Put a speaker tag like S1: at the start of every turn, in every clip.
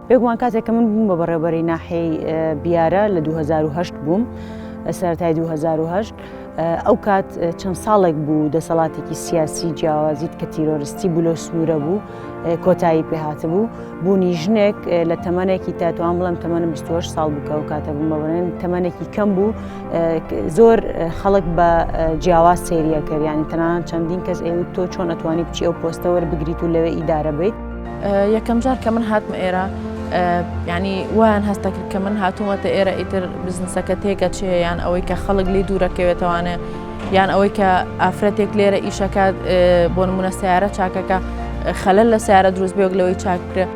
S1: بێگومان کاتێک کە من بووم بە بەڕێبەری ناحەی بیارە لە 2010 بووم سەرای 2010 ئەو کات چەند ساڵێک بوو دەسەڵاتێکی سیاسی جیاوازیت کە تیرۆرستی بوو لە سنوورە بوو کۆتایی پێهاتبوو بوونی ژنێک لە تەمەێکی تاتوان بڵم تەمەنم 28 ساڵ بکە و کاتە بوومە بڵێن تەمەێکی کەم بوو زۆر خەڵک بە جیاواز سریەکەیانی تەنان چەندین کەس ئێ تۆ چۆن ئەتوانی بچی ئەو پۆستەوە بگریت و لەوێ ئیدارە بیت یەکەم جار
S2: کە من هاتمە ئێرە ینی وایان هەستە کرد کە من هاتوومەتە ئێرە ئیتر بزنسەکە تێگەچێ یان ئەوەی کە خەڵک لی دوورەکەوێتوانێت یان ئەوەی کە ئافرەتێک لێرە ئیشەکات بۆ نمونە سیارە چاکەکە خەلل لە سیارە دروست بێک لەوەی چاک بکرێت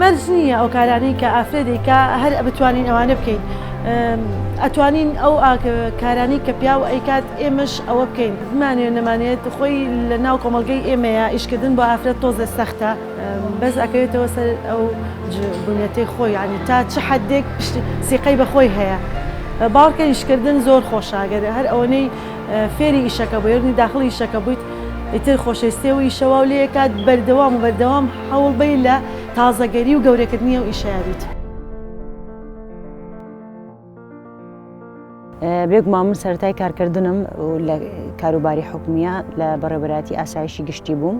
S2: مەرج نییە
S3: ئەو کارانەی کە ئافرەتێکە هەر بتوانین ئەوانە بکەین ئەتوانین ئەو کارانی کە پیا و ئەیکات ئێمەش ئەوە بکەین زمانێ نەمانێت خۆی لە ناو کۆمەلگەی ئێمەیە ئیشکردن بۆ ئافرەت تۆزێ سەختە. بەس ئەکەوێتەوە سەر ئەو بنیەتەی خۆی یعنی تا چ حدێک سیقەی بەخۆی هەیە باوکە ئیشکردن زۆر خۆشاگەر هەر ئەوەنەی فێری ئیشەکە بۆ یێرنی داخڵ ئیشەکە بوویت ئیتر خۆشەویستێ و ئیشەوا و لەکات بەردەوام و بەردەوام حەوڵ بی لە تازەگەری و گەورەکردنی و ئیشەیە بیت.
S1: بێگومان من سەرای کارکردنم لە کاروباری حکومیە لە بەڕێبەراتی ئاسایشی گشتی بووم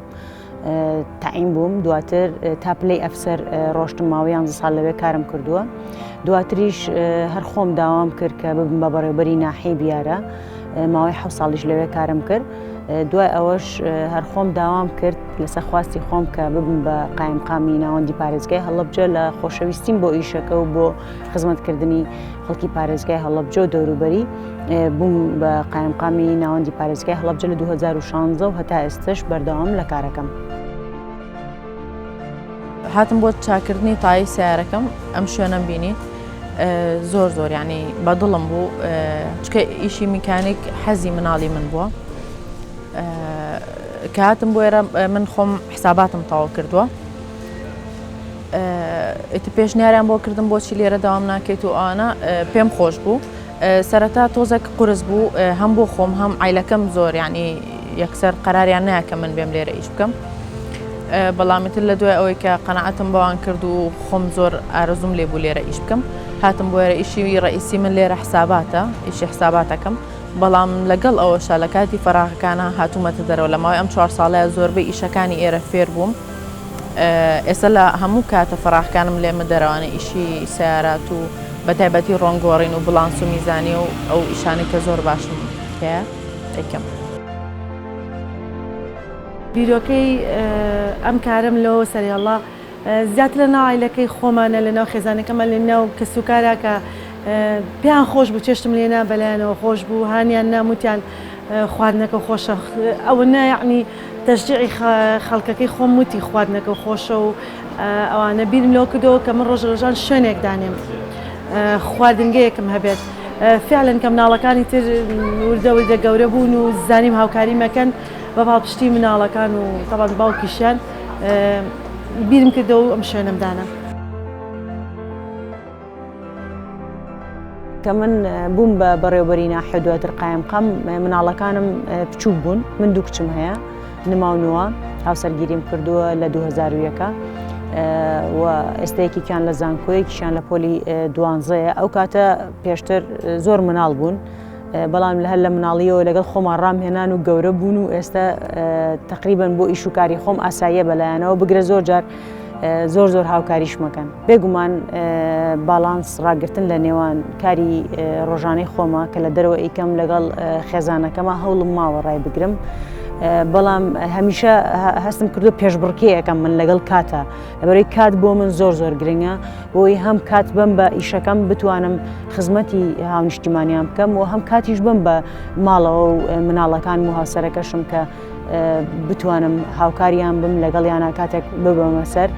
S1: تایم بووم دواتر تا پلی ئەفسەر ڕۆشتم ماوەیان ساڵ لەوێ کارم کردووە دواتریش هەر خۆم داوام کرد کە ببم بە بەڕێبەری ناحی بیارە ماوەی حە ساڵیش لەوێ کارم کرد دوای ئەوەش هەر خۆم داوام کرد لەسەر خواستی خۆم کە ببم بە قایمقامی ناوەندی پارێزگای هەڵبجە لە خۆشەویستیم بۆ ئیشەکە و بۆ خزمەتکردنی خەڵکی پارێزگای هەڵبجە و دەوروبەری بووم بە قایمقامی ناوەندی پارێزگای هەڵبجە لە 2016 و هەتا ئێستش بەردەوام لە کارەکەم.
S2: هاتم بۆ چاکردنی تای سیارەکەم ئەم شوێنەم بینی زۆر زۆر ینی بەدڵم بوو چکە ئیشی میکانیک حەزی مناڵی من بووە کاتم بۆێرە من خۆم حساباتم تەواو کردووە ئیتر پێشنیاریان بۆ کردم بۆچی لێرە داوام ناکەیت و ئانا پێم خۆش بوو سەرەتا تۆزێک قرس بوو هەم بۆ خۆم هەم ئایلەکەم زۆر ینی یەکسەر قەراریان ناکە من بێم لێرە ئیش بکەم بەڵامیتر لە دوای ئەوەی کە قەنەعەتم بەوان کرد و خۆم زۆر ئارزوم لێ بوو لێرە ئیش بکەم هاتم بۆێرە ئیشی ڕئیسی من لێرە حساباتە ئیشی حساباتەکەم بەڵام لەگەڵ ئەوەشە لە کاتی فراغەکانە هاتوومەتە دەرەوە لە ماوەی ئەم چوار ساڵەیە زۆربەی ئیشەکانی ئێرە فێر بووم ئێستا لە هەموو کاتە فەراخکانم لێمە دەرەوانە ئیشی سیارات و بە تایبەتی ڕۆنگۆڕین و بڵانس و میزانیە و ئەو ئیشانی کە زۆر باشم پێ ئەیکەم.
S3: بیرۆکەی ئەم کارەم لەوە سەریاڵە زیاتر لە ناو عیلەکەی خۆمانە لە ناو خێزانەکەمان لە ناو کەس و کارا کە پێیان خۆش بوو چێشتم لێنا بەلایەنەوە خۆش بوو هانیان ناموتیان خواردنەکە خۆشە ئەوە نایعنی تەشجیعی خەڵکەکەی خۆم وتی خواردنەکەو خۆشە و ئەوانە بیرم لەوە کردەوە کە من ڕۆژە ڕۆژان شوێنێک دانێم خواردنگەیەکم هەبێت فعلەن کە مناڵەکانی تر وردە وردە گەورە بوون و زانیم هاوکاری مەکەن بە پاڵپشتی مناڵەکان و تەبان باوکیشیان بیرم کردەوە ئەم شوێنم دانم.
S1: کە من بووم بە بەڕێوبەری ناحێ دواتر قایمقام مناڵەکانم بچووک بوون من دوو کچم هەیە نماونووە هاوسەرگیریم کردووە لە 2001ەکە و ئێستەیەکیان لە زانکۆیەکیشان لە پۆلی دوانزەیە ئەو کاتە پێشتر زۆر مناڵ بوون بەڵام هەر لە مناڵیەوە لەگەڵ خۆمان ڕامهێنان و گەورە بوون و ئێستا تقریبن بۆ ئیش و کاری خۆم ئاساییە بەلایەنەوە بگرە زۆر جار زۆر زۆر هاوکاریش مەکەن بێگومان باڵانس ڕاگرتن لە نێوان کاری ڕۆژانەی خۆمە کە لە دەرەوە ئیکەم لەگەڵ خێزانەکەمە هەوڵم ماوە ڕای بگرم. بەڵام هەمیشە هەستم کردو پێشبڕکێەکەم من لەگەڵ کاتە لەبەرەی کات بۆ من زۆر زۆر گرنگە بۆی هەم کات بم بە ئیشەکەم بتوانم خزمەتی هاونیشتیمانیان بکەم و هەم کاتیش بم بە ماڵەوە و مناڵەکان و هاوسەرەکەشم کە بتوانم هاوکاریان بم لەگەڵ یانە کاتێک ببەمە سەر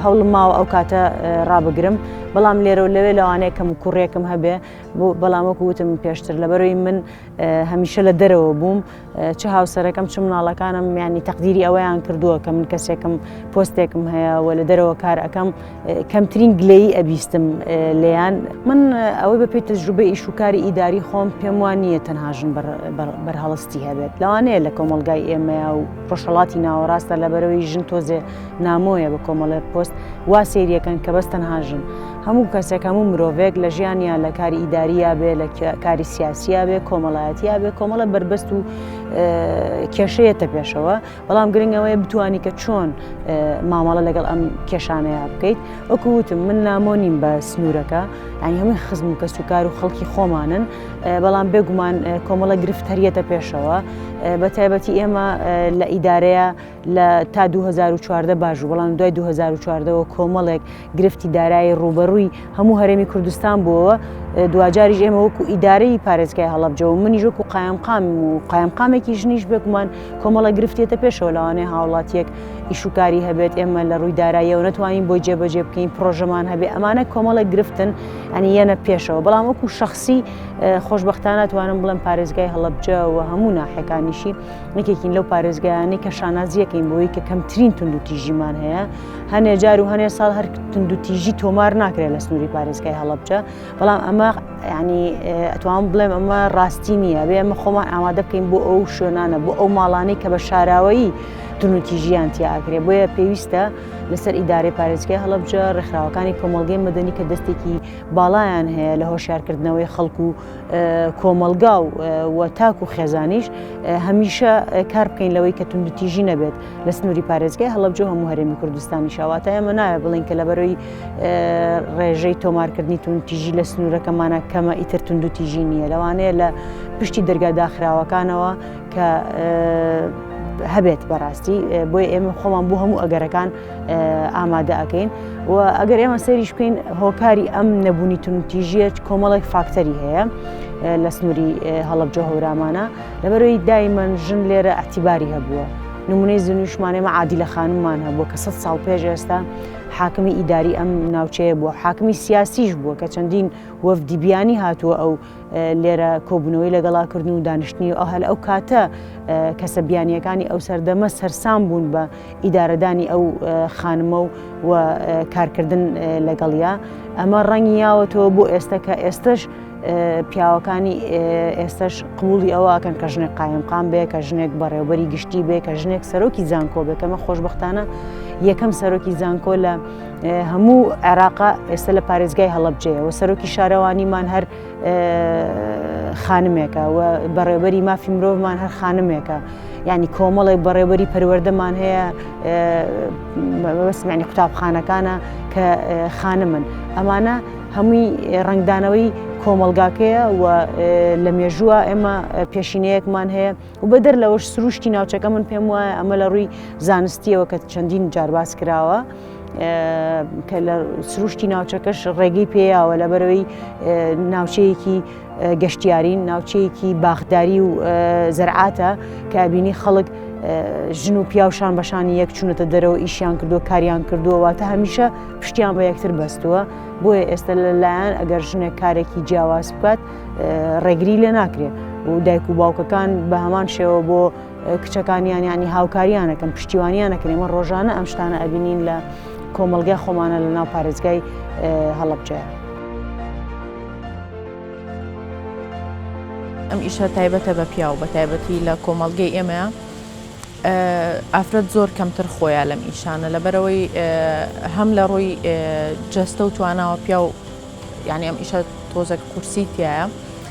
S1: هەوڵم ماوە ئەو کاتە ڕابگرم بەڵام لێرە و لەوێ لەوانەیە کەم کوڕێکم هەبێ بۆ بەڵامەکو وتم پێشتر لەبەرەوەی من هەمیشە لە دەرەوە بووم چ هاوسەرەکەم چ مناڵەکانم میانی تەقدیری ئەوەیان کردووە کە من کەسێکم پۆستێکم هەیە و لە دەرەوە کار ئەەکەم کەمترین گلەی ئەبیستم لێیان من ئەوەی بە پێی تەجروبە ئیش و کاری ئیداری خۆم پێم وان نییە تەنهاژن بەرهەڵستی هەبێت لەوانەیە لە کۆمەلگای ئێمەیە و ڕۆژهڵاتی ناوەڕاستە لە بەرەوەی ژن تۆزێ نامۆیە بە کۆمەڵێ پۆست وا سریەکەن کە بەس تەنهاژن هەموو کەسێک هەموو مرۆڤێک لە ژیانیا لە کاری ئیداریە بێ لە کاری سیاسیە بێ کۆمەڵایەتیا بێ کۆمەڵە بربەست و کێشەیەتە پێشەوە بەڵام گرنگەوەی بتانی کە چۆن مامەڵە لەگەڵ ئەم کێشانەیە بکەیت وەکووتم من نامۆنیم بە سنوورەکە ئەنی هەمووی خزم و کەس و کار و خەڵکی خۆمانن بەڵام بێگومان کۆمەڵە گرفت هەریەتە پێشەوە بە تایبەتی ئێمە لە ئیدارەیە لە تا 2014 باش بەڵام دوای 2014ەوە کۆمەڵێک گرفتی دارایی ڕووبەڕووی هەموو هەرێمی کوردستان بووەوە دواجاریش ئێمە وەکو ئیدارەی پارێزگای هەڵبجە و منیش وەکو قایمقام و قایمقامێکی ژنیش بێگومان کۆمەڵە گرفتێتە پێشەوە لەوانەیە هاوڵاتیەک ئیشوکاری هەبێت ئێمە لە ڕووی داراییەوە نتوانین بۆی جێبەجێ بکەین پرۆژەمان هەبێ ئەمانە کۆمەڵە گرفتن ئەنی یەنە پێشەوە بەڵام وەکو شخصی خۆشببختانە توانم بڵم پارێزگای هەڵبجە و هەموو ناحەکانیشی نکێکین لەو پارێزگایانی کە شانازیەکەین بۆی کە کەمترین تونند و تیژیمان هەیە هەنێ جار و هەنێ ساڵ هەر تندوتیژی تۆمار ناکرێت لە سنووری پارێزگای هەڵبجە بەڵام ئەمە ینی ئەتوان بڵێم ئەمە ڕاستی نییە بێ ئەمە خۆمان ئامادە بکەین بۆ ئەو شوێنانە بۆ ئەو ماڵانەی کە بە شاراوەیی تونوتیژیان تیاکرێ بۆیە پێویستە لەسەر ئیدارەی پارێزگای هەڵبجە ڕێکخراوەکانی کۆمەلگەی مەدەنی کە دەستێکی باڵایان هەیە لە هۆشارکردنەوەی خەڵکو و کۆمەلگا و تاک و خێزانیش هەمیشە کار بکەین لەوەی کە تونندتیژی نەبێت لە سنووری پارێزگای هەڵەبجە هەموو هەرێمی کوردستانی شاواتە ئەمە ناوێ بڵین کە لە بەرەوەی ڕێژەی تۆمارکردنی تون تیژی لە سنوورەکەمانە کەمە ئیتر تونند و تیژی نییە لەوانەیە لە پشتی دەرگا داخراوەکانەوە کە هەبێت بەڕاستی بۆی ئێمە خۆمان بۆ هەموو ئەگەرەکان ئامادە ئەەکەین و ئەگەر ئێمە سەریش بکەین هۆکاری ئەم نەبوونی تونتیژیە کۆمەڵێک فاکتەری هەیە لە سنووری هەڵبجە هەورامانە لەبەرەوەی دایمەن ژن لێرە ئەتیباری هەبووە نمونەی زنیشمان ئێمە عادی لە خانممان هەبووە کە سە ساڵ پێش ئێستا حاکمی ئیداری ئەم ناوچەیە بووە حاکمی سیاسیش بووە کە چەندین وەفدی بیانی هاتووە ئەو لێرە کۆبوونەوەی لەگەڵاکردن و دانیشتنی ئەو هەل ئەو کاتە کەسە بیانیەکانی ئەو سەردەمە سەرسام بوون بە ئیدارەدانی ئەو خانمە و و کارکردن لەگەڵیا ئەمە ڕەنگی یاوەتەوە بۆ ئێستا کە ئێستش پیاوەکانی ئێستش قوڵی ئەوواکەن کە ژنێک قایمقام بێ کە ژنێک بەڕێوبەری گشتی بێ کە ژنێک سەرۆکی زانکۆ بێکەمە خۆشببختانە یەکەم سەرۆکی زانکۆ لە هەموو عێراقا ئێستا لە پارێزگای هەڵبجەیەوە سەرۆکی شارەوانیمان هەر خانمێکە و بەڕێوەری مافی مرۆڤمان هەر خانمێکە ینی کۆمەڵێک بەڕێوەری پەروەردەمان هەیە بەسمانی قوتابخانەکانە کە خانمن ئەمانە هەمووی ڕنگدانەوەی کۆمەلگاکەیە و لە مێژووە ئێمە پێشینەیەکمان هەیە و بە دەر لەوەش سروشتی ناوچەکە من پێم وایە ئەمە لە ڕووی زانستیەوە کە چەندین جارباز کراوە. کە لە سروشتی ناوچەکەش ڕێگەی پێیاوە لە بەرەوەی ناوچەیەکی گەشتیارین ناوچەیەکی باخداری و زەرعاتە کابینی خەڵک ژن و پیاوشان بەشانی یەک چونەتە دەرەوە ئیشیان کردو کاریان کردووەوە تا هەمیشە پشتیان بە یەکتر بەستووە بۆیە ئێستا لەلایەن ئەگەر ژنێک کارێکی جیاواز بکات ڕێگری لێ ناکرێت و دایک و باوکەکان بە هەمان شێوە بۆ کچەکانیان ینی هاوکاریانەکەن پشتیوانیانەکەن ئمە ڕۆژانە ئەم شتانە ئەبینین لە کۆمەلگای خۆمانە لە ناو پارێزگای هەڵبجە. ئەم
S2: ئیشە تایبەتە بە پیاو بە تایبەتی لە کۆمەلگەی ئێمە ئافرەت زۆر کەمتر خۆیان لەم ئیشانە لەبەرەوەی هەم لە ڕووی جەستە و تواناوە پیاو یعنی ئەم ئیشە تۆزەک قورسی تایە.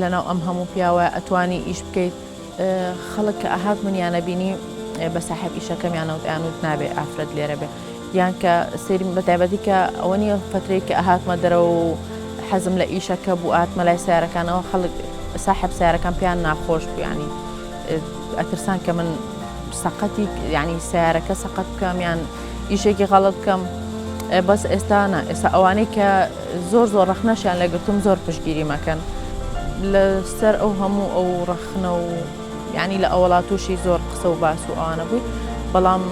S2: لەناو ئەم هەموو پیاوە ئەتوانی ئیش بکەیت خەڵک کە ئەهات منیانە بینی بە ساحب ئیشەکەمیانەوت ئەیانوت نابێ ئافرەت لێرە بێ یان کە سری بە تایبەتی کە ئەوە نیە فترەی کە ئەهاتمە دەرەوە و حەزم لە ئیشەکە بوو ئاتمە لای سیارەکانەوە خەڵک ساحب سیارەکان پێیان ناخۆش بوویانی ئەترسان کە من سەقەتی ینی سیارەکە سەقەت بکەم یان ئیشێکی غەڵت بکەم بەس ئێستانە ئێستا ئەوانەی کە زۆر زۆر ڕەخنەشیان لێ گرتووم زۆر پشتگیری مەکەن لە سەر ئەو هەموو ئەو ڕەخنە و یعنی لە ئەوڵا تووشی زۆر قسە و باس و ئەوانە بووی بەڵام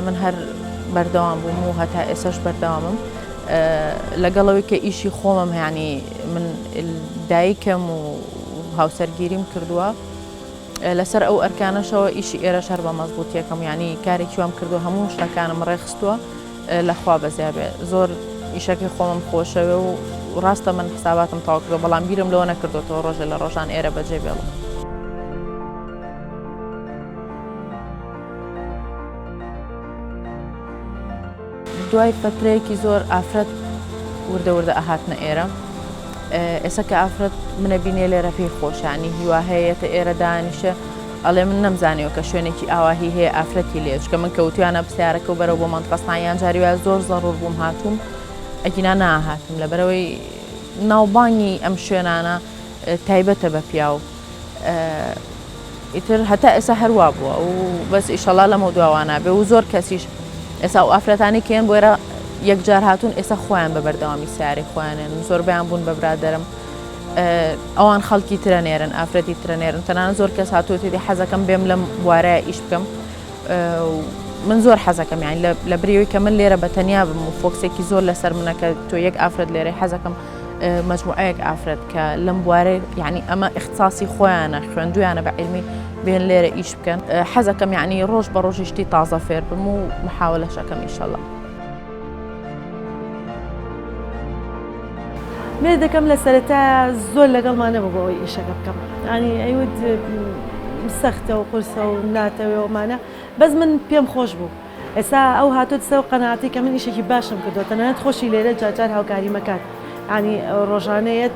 S2: من هەر بەردەوام بووم و هەتا ئێسش بەردەوامم لەگەڵەوەی کە ئیشی خۆمم هەیانی من دایکم و هاوسەرگیریم کردووە لەسەر ئەو ئەرکانەشەوە ئیشی ئێرە شەر بە مەزبوط یەکەم ینی کارێکی وام کردو هەموو شتەکانم ڕێخستووە لە خوا بەزیابێ زۆر ئیشەکەی خۆمم خۆشەوێ و ڕاستە من حساباتم تاو کردو بەڵام بیرم لەوە نەکردوەوە ڕۆژێ لە ڕۆژان ئێرە بەجێ بێڵم. دوای فترەیەکی زۆر ئافرەت وردە وردە ئەهاتنە ئێرە ئێستا کە ئافرەت منە بینێ لێرە پێی خۆشانی هیوا هەیەتە ئێرە دانیشە ئەڵێ من نەمزانیوە کە شوێنێکی ئاواهی هەیە ئافرەتی لێ چکە من کەوتویانە بسیارەکە و بەرەو بۆ مەنتقەستان یان جاری وایە زۆر زەڕور بووم هاتووم ئەگینا ناهاتم لە بەرەوەی ناوبانگی ئەم شوێنانە تایبەتە بە پیاو ئیتر هەتا ئێسا هەروا بووە و بەس ئیشەڵا لەمە دواوانابێ و زۆر کەسیش ئێسا و ئافرەتانی کێن بۆێرە یەکجار هاتوون ئێستا خۆیان بە بەردەوامی سیارەی خۆیانێن زۆربیان بوون بە برادرم ئەوان خەڵکی ترە نێرن ئافرەتی ترە نێرن تەنان زۆر کەس هاتوێتی حەزەکەم بێم لەم بوارە ئیش بکەم من زۆر حەزەکەم یان لە بریەوەی کە من لێرە بە تەنیا بم و فۆکسێکی زۆر لەسەر منەکە تۆ یەک ئافرەت لێرە حەزەکەم مجموعەیەک ئافرەت کە لەم بوارێ یعنی ئەمە اختصاسی خۆیانە خوێندویانە بە علمی بێن لێرە ئیش بکەن حەزەکەم یعنی ڕۆژ بە ڕۆژیشتی تازە فێر بم و محاولەشەکەم ئیشەڵە.
S3: مێردەکەم لە سەرەتایە زۆر لەگەڵمان نەبوو بەوەی ئیشەکە بکەم ئانی ئەیوت سەختە و قرسە و ناتەوێەوەمانە بەس من پێم خۆش بوو ئێسا ئەو هاتوت سەو قەناتی کە من ئیشێکی باشم کردو تەنانەت خۆشی لێرە جاجار هاوکاری مەکات ئانی ڕۆژانەیەت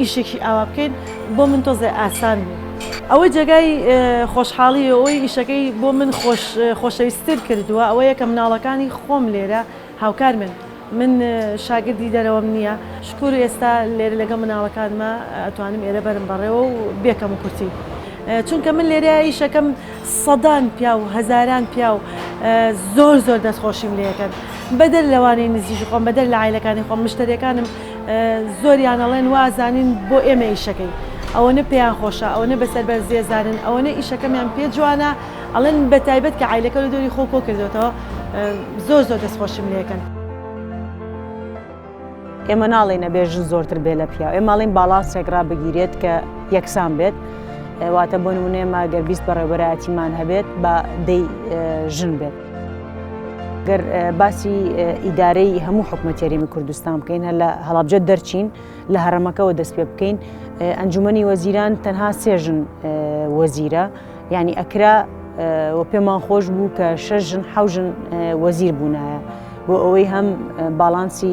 S3: ئیشێکی ئاوا بکەین بۆ من تۆزێ ئاسان بوو. ئەوەی جێگای خۆشحاڵی و ئەوەی ئیشەکەی بۆ من خۆشەویستر کردووە ئەوەیە کە مناڵەکانی خۆم لێرە هاوکارمن، من شاگردی دەرەوەم نییە، شکور ئێستا لێرە لەگەڵ مناڵەکانمە ئەتوانم ئێرە بەرم بەڕێوە و بێ کەموکورتی چونکە من لێرە ئیشەکەم سەدان پیاو و هەزاران پیاو زۆر زۆر دەستخۆشیم لێ ئەکەن بەدەر لەوانەی نزیکی خۆم بەدەر لە عایلەکانی خۆم مشتەریەکانم زۆریان ئەڵێن وا ئەزانین بۆ ئێمە ئیشەکەین ئەوەنە پێیان خۆشە ئەوەنە بەسەر بەرزیێزانن ئەوەنە ئیشەکەمیان پێ جوانە ئەڵێن بە تایبەت کە عیلەکە لە دۆری خۆ کۆ کردێتەوە زۆر زۆر دەستخۆشیم لەکەن.
S1: ئێمە ناڵین ئەبێ ژن زۆرتر بێ لە پیاو ئێماڵین باڵانسێک ڕابگیرێت کە یەکسان بێت واتە بۆ نمونێمە گەر بیست بەڕێوەبەرایەتیمان هەبێت بە دەی ژن بێت. گەر باسی ئیدارەی هەموو حکومەت یاریمی کوردستان بکەین هە لە هەڵابجە دەرچین لە هەرەمەکەەوە دەست پێ بکەین ئەنجومی وەزیران تەنها سێژن وەزیرە ینی ئەکرا و پێمان خۆش بوو کە شەژن حوژن وەزیر بوونایە بۆ ئەوەی هەم باڵانسی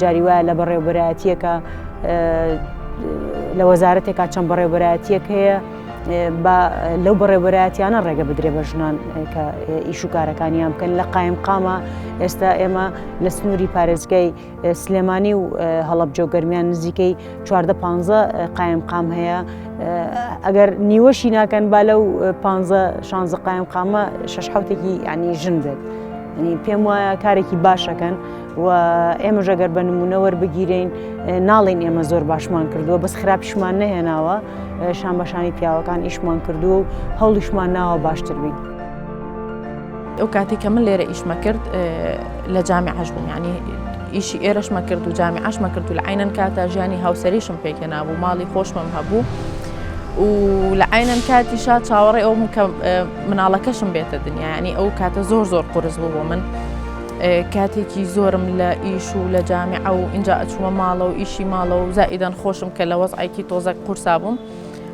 S1: جاری وایە لە بەڕێوبەرایەتیەکە لە وەزارەتێکا چەند بەڕێوبەرایەتیەک هەیە لەو بەڕێوبەرایەتیانە ڕێگە بدرێ بە ژنان کە ئیش و کارەکانیان بکەن لە قایم قامە ئێستا ئێمە لە سنووری پارێزگای سلێمانی و هەڵبجە گەرمیان نزیکەی چواردە پ قایم قام هەیە ئەگەر نیوەشی ناکەن با لەو پ شانزە قایم قامە شش حوتێکی ینی ژن بێت پێم وایە کارێکی باشەکەن. و ئێمەژە گەر بە نمونە وەربگیرین ناڵین ئێمە زۆر باشمان کردووە بەس خراپیشمان نەهێناوە شان بەشانی پیاوەکان ئیشمان کردووە و هەوڵیشمان ناوە باشتر بین.
S2: ئەو کاتی کە من لێرە ئیشمە کرد لە جامی عش بووم ینی ئیشی ئێرەشمە کرد و جامی عشمە کرد و لە عینەن کاتە ژیانی هاوسەریشم پێکێ نابوو ماڵی خۆشمم هەبوو و لە عینەن کاتی شا چاوەڕێ ئەو مناڵەکەشم بێتە دنیاانی ئەو کاتە زۆر زۆر قرس بوو بۆ من. کاتێکی زۆرم لە ئیش و لە جامیعە و ئینجا ئەچوومە ماڵە و ئیشی ماڵە و زائیدەن خۆشم کە لە وەزعێکی تۆزەک قورسا بووم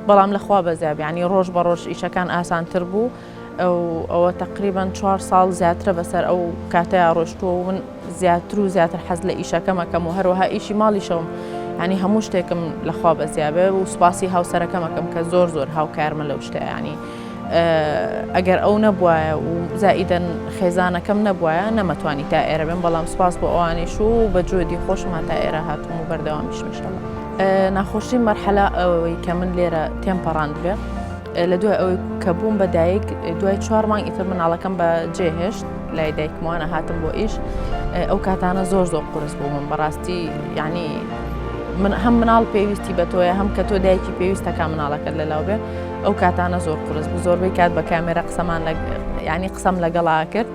S2: بەڵام لەخوا بەزیاب ینی ڕۆژ بە ڕۆژ ئیشەکان ئاسانتر بوو ئەوە تقریبان چوار ساڵ زیاترە بەسەر ئەو کاتەیە ڕۆشتووە و من زیاتر و زیاتر حەز لە ئیشەکەمەکەم و هەروەها ئیشی ماڵیشەوم ینی هەموو شتێکم لەخوا بەزیابێ و سوپاسی هاوسەرەکەمەکەم کە زۆر زۆر هاوکارمە لەو شتیانی ئەگەر ئەو نەبوایە و زائیدەن خێزانەکەم نەبوایە نەمەتوانی تا ئێرە بم بەڵام سپاس بۆ ئەوانیش و بە جۆدی خۆشم هاتا ئێرە هاتوم و بەردەوامیشمشەڵە ناخۆشی مەرحەلا ئەوەی کە من لێرە تێم پەڕاندبێ لە دوای ئەوەی کە بووم بە دایک دوای چوار مانگ ئیتر مناڵەکەم بە جێهێشت لای دایکمانە هاتم بۆ ئیش ئەو کاتانە زۆر زۆر قرس بوو من بەڕاستی یعنی من هەم مناڵ پێویستی بە تۆیە هەم کە تۆ دایکی پێویستەکە مناڵەکەت لەلاو بێ ئەو کاتانە زۆر قرس بوو زۆربەی کات بە کامێرە قسەمان ینی قسەم لەگەڵا کرد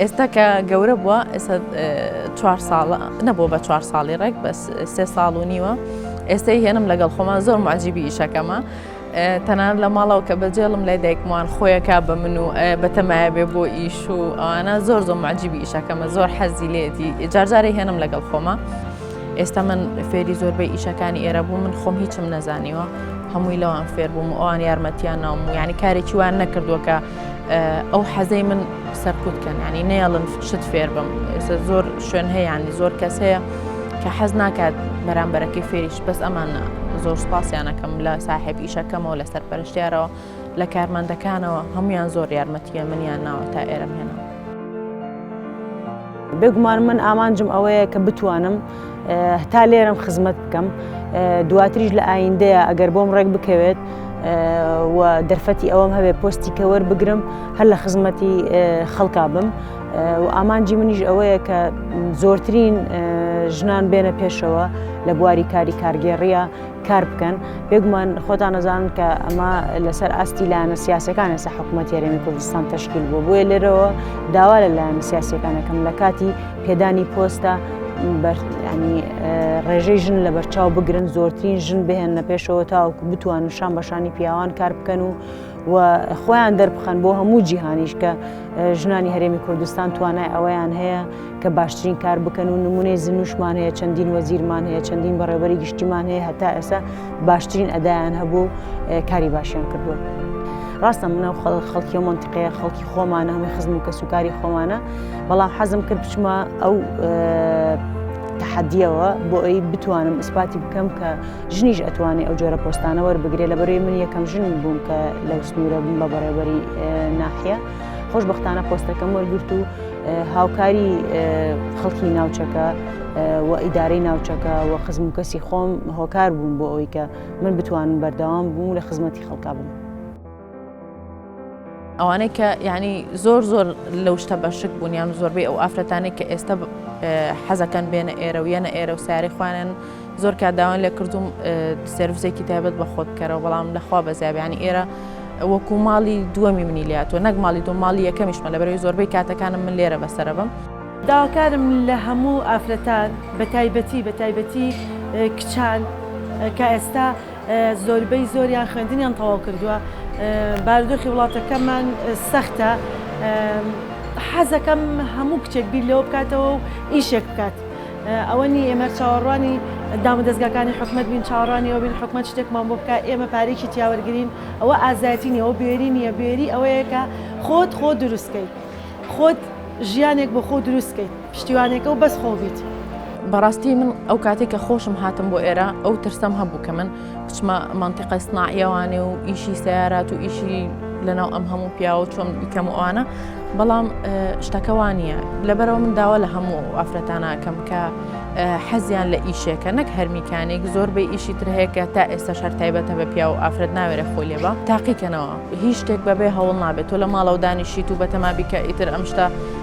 S2: ئێستا کە گەورە بووە ئێستا چوار ساڵە نەبوو بە چوار ساڵی ڕێک بەس سێ ساڵ و نیوە ئێستای هێنم لەگەڵ خۆمان زۆر معجیبی ئیشەکەمە تەنان لە ماڵەوە کە بەجێڵم لای دایکمان خۆیەکە بە من و بەتەمایە بێ بۆ ئیش و ئەوانە زۆر زۆر معجیبی ئیشەکەمە زۆر حەزی لێتی جارجارە هێنم لەگەڵ خۆمە. ئێستا من فێری زۆربەی ئیشەکانی ئێرە بوو من خۆم هیچم نەزانیوە هەمووی لەوان فێر بووم و ئەوان یارمەتیان ناوم و ینی کارێکی وان نەکردووە کە ئەو حەزەی من سەرکوت کەن ینی نەیەڵن شت فێر بم ئێستا زۆر شوێن هەیەیانی زۆر کەس هەیە کە حەز ناکات بەرامبەرەکەی فێریش بەس ئەمانە زۆر سپاسیانەکەم لە ساحب ئیشەکەمەوە لەسەر پەرشتیارەوە لە کارمەندەکانەوە هەموویان زۆر یارمەتیە منیان ناوە تا ئێرەم هێناوە.
S1: بێگومان من ئامانجم ئەوەیە کە بتوانم هەتا لێرم خزمەت بکەم دواتریش لە ئایندەیە ئەگەر بۆم ڕێک بکەوێت و دەرفەتی ئەوەم هەبێ پۆستی کەوەر بگرم هەر لە خزمەتی خەڵکا بم و ئامانجی منیش ئەوەیە کە زۆرترین ژنان بێنە پێشەوە لە بواری کاری کارگێڕیە کار بکەن بێگومان خۆتان ئەزانن کە ئەمە لەسەر ئاستی لایەنە سیاسەکان ئێستا حکوومەت یاێمی کوردستان تشکیل بوو بۆیە لێرەوە داوا لە لایەن سیاسەکانەکەم لە کاتی پێدانی پۆستە ینی ڕێژەی ژن لە بەرچاو بگرن زۆرترین ژن بهێن نە پێشەوە تاوەکو بتوان شان بەشانی پیاوان کار بکەن و و خۆیان دەربخەن بۆ هەموو جیهانیش کە ژنانی هەرێمی کوردستان توانای ئەوەیان هەیە کە باشترین کار بکەن و نمونەی زنوشمان هەیە چەندین وەزیرمان هەیە چەندین بەڕێوەری گشتیمان هەیە هەتا ئێستا باشترین ئەدایان هەبوو کاری باشیان کردووە. ڕاستە منە خەڵکی و منتیقەیە خەڵکی خۆمانە هەمووی خزم و کەسوکاری خۆمانە بەڵام حەزم کرد بچمە ئەو تحدیەوە بۆ ئەوی بتوانم ئیسپاتی بکەم کە ژنیش ئەتوانێ ئەو جۆرە پۆستانە وەربگرێ لە بەروی من یەکەم ژن بووم کە لەو سنوورە بووم بە بەڕێوەری ناحە خۆشببختانە پۆستەکەم وەرگرت و هاوکاری خەڵکی ناوچەکە و ئیدارەی ناوچەکە و خزم و کەسی خۆم هۆکار بووم بۆ ئەوی کە من بتوانم بەردەوام بووم لە خزمەتی خەڵکا بووم.
S2: ئەوانەی کە یعنی زۆر زۆر لەو شتە بەشک بوون یان زۆربەی ئەو ئافرەتانی کە ئێستا حەزەکەن بێنە ئێرە و یەنە ئێرە و ساری خوانن زۆر کاداوان لێ کردوم سرویسێکی تایبەت بە خۆت بکەرەوە بەڵام لەخوا بەزیابیانی ئێرە وەکو ماڵی دووەمی منی لاتوە نەک ماڵی دوو ماڵی یەکەمیشمە لە بەرەی زۆربەی کاتەکانم من لێرە بەسرە بم. داواکارم
S3: لە هەموو ئافرەتان بە تایبەتی بە تایبەتی کچان کە ئێستا زۆربەی زۆریان خوێندنیان تەواو کردووە بارودۆخی وڵاتەکەمان سەختە حەزەکەم هەموو کچێک بیر لەوە بکاتەوە و ئیشێک بکات ئەوە نی ئێمە چاوەڕوانی دام دەستگاکانی حکومت بین چاوەڕانیەوە بین حکومت شتێکمان بۆ بکە ئێمە پارێکی تیاوەرگین ئەوە ئازایەتی نیەوە بێری نییە بێری ئەوەیە کە خۆت خۆ دروستکەیت خۆت ژیانێک بۆ خۆ دروستکەیت پشتیوانێکە و بەس خۆ بیت. بەڕاستی
S2: من ئەو کاتەی کە خۆشم هاتم بۆ ئێرە ئەو ترسەم هەبوو کە من بچمە مەنتیقە سناعیەوانێ و ئیشی سیارات و ئیشی لەناو ئەم هەموو پیاوە چۆن بیکەم و ئەوانە بەڵام شتەکە وا نییە لەبەرەوە من داوا لە هەموو ئافرەتاناکەم کە حەزیان لە ئیشێکە نەک هەرمیکانێک زۆر بە ئیشی تر هەیە کە تا ئێستا شەر تایبەتە بە پیا و ئافرەت ناوێرە خۆی لێبە تاقیکەنەوە هیچ شتێک بەبێ هەوڵ نابێت تۆ لە ماڵەوە دانیشیت و بەتەمابیکە ئیتر ئەم شتە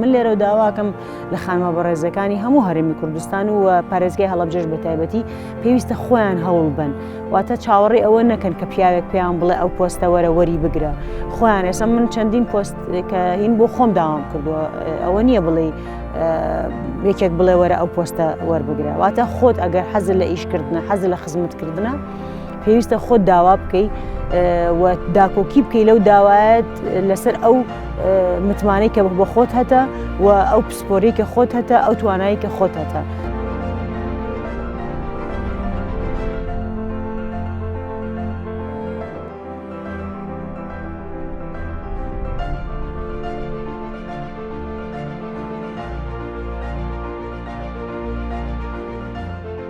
S2: من
S1: لێرە و داواکەم لە خانمە بەڕێزەکانی هەموو هەرمی کوردستان و پارێزگای هەڵبجێش بە تایبەتی پێویستە خۆیان هەوڵ بن واتە چاوەڕێ ئەوە نەکەن کە پیاوێک پێیان بڵێ ئەو پۆستە وەرە وەری بگرە خۆیان ئێستا من چەندین پۆست کە هین بۆ خۆم داوام کردووە ئەوە نییە بڵێ یەکێک بڵێ وەرە ئەو پۆستە وەربگرە واتە خۆت ئەگەر حەزر لە ئیشکردنە حەزر لە خزمەتکردە پێویستە خۆت داوا بکەی و داکۆکی بکەی لەو داوایەت لەسەر ئەو متمانەی کە بە خۆت هەتە و ئەو پسپۆری کە خۆت هەتە ئەو توانایی کە خۆت هەتە.